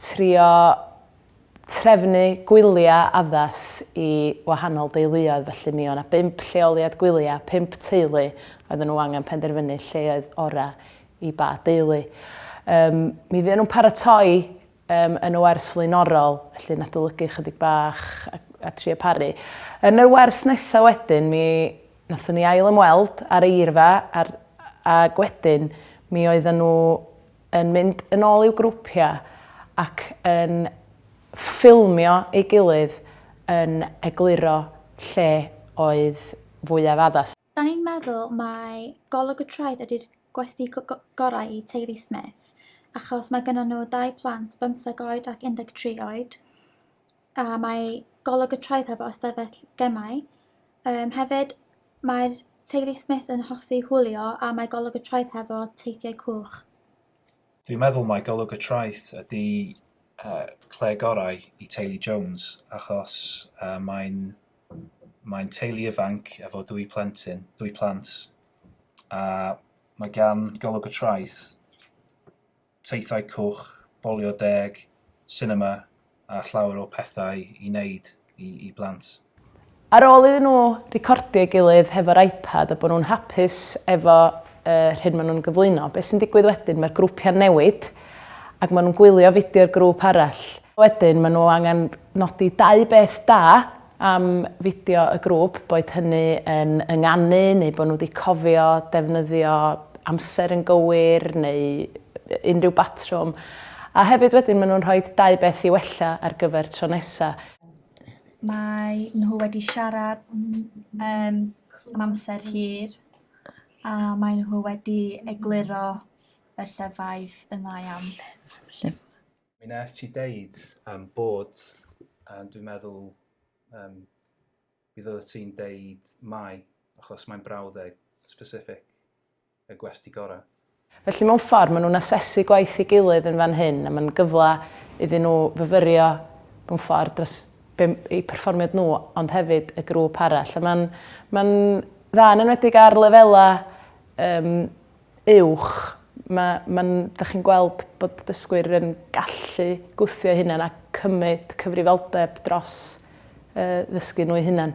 trio trefnu gwylia addas i wahanol deuluoedd felly mi o' 'na bump lleoliad gwylia, pump teulu, oedden nhw angen penderfynu lle oedd ora' i ba deulu. Yym mi fuon nhw'n paratoi yym yn y wers flaenorol felly yn adolygu chydig bach a a trio paru. Yn yr wers nesa' wedyn mi nathon ni ail ymweld a'r eirfa a'r ag wedyn mi oedden nhw yn mynd yn ôl i'w grwpiau ac yn ffilmio ei gilydd yn egluro lle oedd fwyaf addas. Dan ni'n meddwl mai golwg y traeth ydy'r gwesty gorau i teulu Smith achos mae gennyn nhw ddau plant, bymtheg oed ac 13 oed. a mae golwg y traeth hefo ystafell gemau. Um, hefyd, mae'r teulu Smith yn hoffi hwlio a mae golwg y traeth hefo teithiau cwch. Dwi'n meddwl mae golwg y traeth ydy uh, cle gorau i teulu Jones achos uh, mae'n mae teulu ifanc efo dwy plentyn, dwy plant a mae gan golwg y traeth teithiau cwch, bolio deg, sinema a llawer o pethau i wneud i blant. Ar ôl iddyn nhw recordio ei gilydd hefo'r iPad a bod nhw'n hapus efo yr hyn maen nhw'n gyflwyno, beth sy'n digwydd wedyn? Mae'r grwpiau'n newid ac maen nhw'n gwylio fideo'r grŵp arall. Wedyn maen nhw angen nodi dau beth da am fideo y grŵp, boed hynny yn ynganu neu bod nhw wedi cofio defnyddio amser yn gywir neu unrhyw batrwm. A hefyd wedyn maen nhw'n rhoi dau beth i wella ar gyfer tro nesaf. Mae nhw wedi siarad um, am amser hir a mae nhw wedi egluro y llefaid yn dda iawn. Mi nes ti deud um, bod, um, dwi'n meddwl, um, bydd oeddet ti'n deud mai, achos mae'n brawddeg specific y gwesti gorau. Felly mewn ffordd, maen nhw'n asesu gwaith i gilydd yn fan hyn, a mae'n gyfle iddyn nhw fyfyrio mewn ffordd dros eu perfformiad nhw, ond hefyd y grŵp arall. Mae'n ma dda yn enwedig ar lefelau um, uwch, ma' ma'n 'dach chi'n gweld bod dysgwyr yn gallu gwthio eu hunain a cymryd cyfrifoldeb dros yy ddysgu nhw'u hunain.